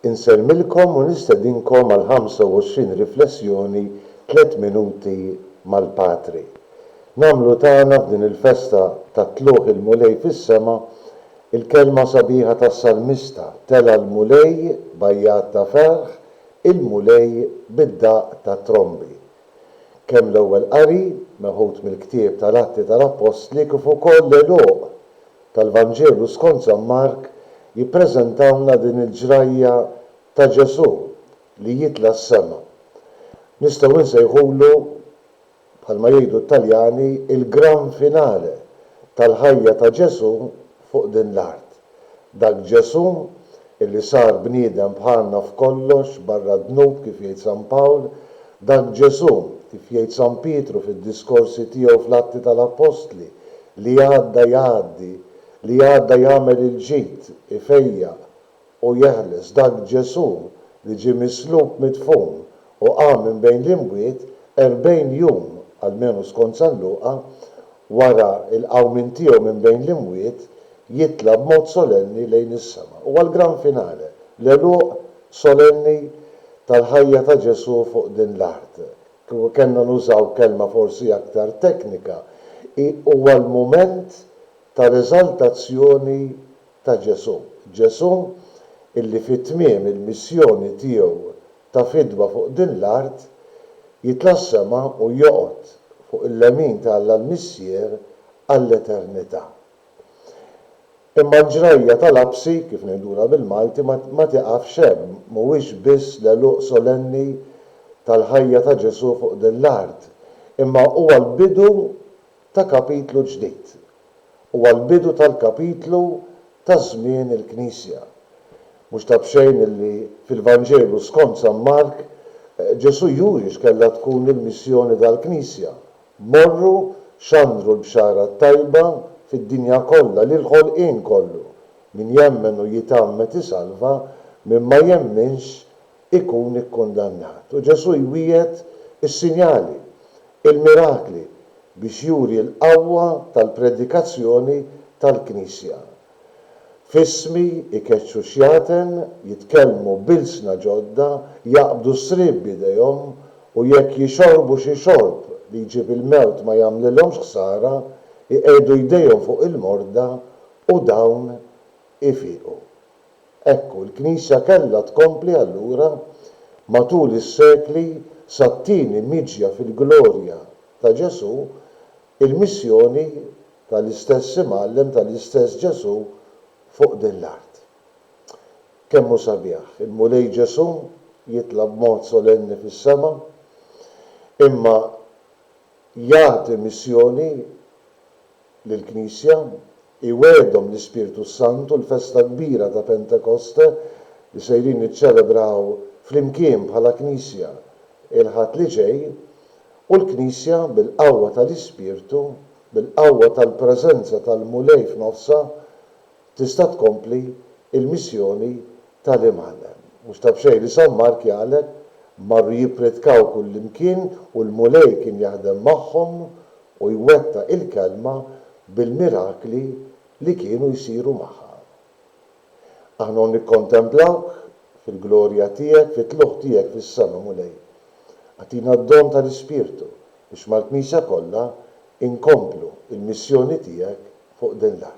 Insellmilkom u nistedinkom għal 25 riflessjoni tliet minuti mal-Patri. Nagħmlu tagħna f'din il-festa ta' Tlugħ il-Mulej fis-sema l-kelma sabiħa tas-Salmista, Tela' l-Mulej b'għajjat ta' ferħ, il-Mulej bid-daqq tat-trombi. Kemm l-Ewwel Qari, meħud mill-Ktieb tal-Atti tal-Appostli, kif ukoll l-Għeluq tal-Vanġelu skont San Mark jippreżentawlna din il-ġrajja ta' Ġesù li jitla' s-sema. Nistgħu insejħulu, bħalma jgħidu t-Taljani, il-gran finale tal-ħajja ta' Ġesù fuq din l-art. Dak Ġesù Illi sar bniedem bħalna f'kollox, barra d-dnub, kif jgħid San Pawl. Dak Ġesù, kif jgħid San Pietru fid-diskorsi tiegħu fl-Atti tal-Appostli, li għadda jgħaddi, li għadda jagħmel il-ġid, ifejjaq, u jeħles, dak Ġesù li ġie mislub, midfun, u qam minn bejn l-imwiet, erbgħin jum, almenu skont San Luqa, wara l-qawmien tiegħu minn bejn l-imwiet, jitla' b'mod solenni lejn is-sema. Huwa l-gran finale, l-għeluq solenni tal-ħajja ta' Ġesù fuq din l-art. Kieku kellna nużaw kelma forsi aktar teknika, hi huwa l-mument tal-eżaltazzjoni ta' Ġesù. Ġesù, illi fi tmiem il-missjoni tiegħu ta' fidwa fuq din l-art, jitla' s-sema u joqgħod fuq il-lemin ta' Alla l-Missier għall-eternità. Imma l-ġrajja tal-għabsi, kif ngħidulha bil-Malti, ma tieqafx hemm, mhuwiex biss l-għeluq solenni tal-ħajja ta' Ġesù fuq din l-art, imma huwa l-bidu ta' kapitlu ġdid. Huwa l-bidu tal-kapitlu ta' żmien il-Knisja. Mhux ta' b'xejn li fil-Vanġelu skont San Mark, Ġesù juri x'kellha tkun il-missjoni tal-Knisja, Morru, xandru l-Bxara t-Tajba fid-dinja kollha lill-ħolqien kollu, min jemmen u jitgħammed isalva, min ma jemminx ikun ikkundannat. U Ġesù jwiegħed is-sinjali, il-mirakli, biex juri l-qawwa tal-predikazzjoni tal-Knisja. F'ismi jkeċċu x-xjaten, jitkellmu b'ilsna ġodda, jaqbdu s-sriep b'idejhom, u jekk jixorbu xi xorb li jġib il-mewt ma jagħmlilhomx ħsara, iqiegħdu jdejhom fuq il-morda u dawn ifiqu. Hekk hu, l-Knisja kellha tkompli allura matul is-sekli sat-tieni miġja fil-glorja ta' Ġesù, il-missjoni tal-istess Imgħallem tal-istess Ġesù fuq din l-art. Kemm hu sabiħ, il-Mulej Ġesù jitla' b'mod solenni fis-sema, imma jagħti missjoni lill-Knisja, iwegħedhom l-Ispirtu s-Sant u l-festa kbira ta' Pentekoste li sejrin niċċelebraw flimkien bħala Knisja il-Ħadd li ġej, u l-Knisja bil-qawwa tal-Ispirtu, bil-qawwa tal-preżenza tal-Mulej f'nofsha, tista' tkompli l-missjoni ta' l-Imħallem. Mhux ta' b'xejn li San Mark jaqleb, marru jippritkaw kullimkien u l-Mulej kien jaħdem magħhom u jwettaq il-kelma bil-mirakli li kienu jsiru magħha. Aħna u nikkontemplawk fil-glorja tiegħek fit-tlugħ tiegħek fis-sema, Mulej. Agħtina d-don ta' l-Ispirtu biex mal-Knisja kollha inkomplu l-missjoni tiegħek fuq din l-art.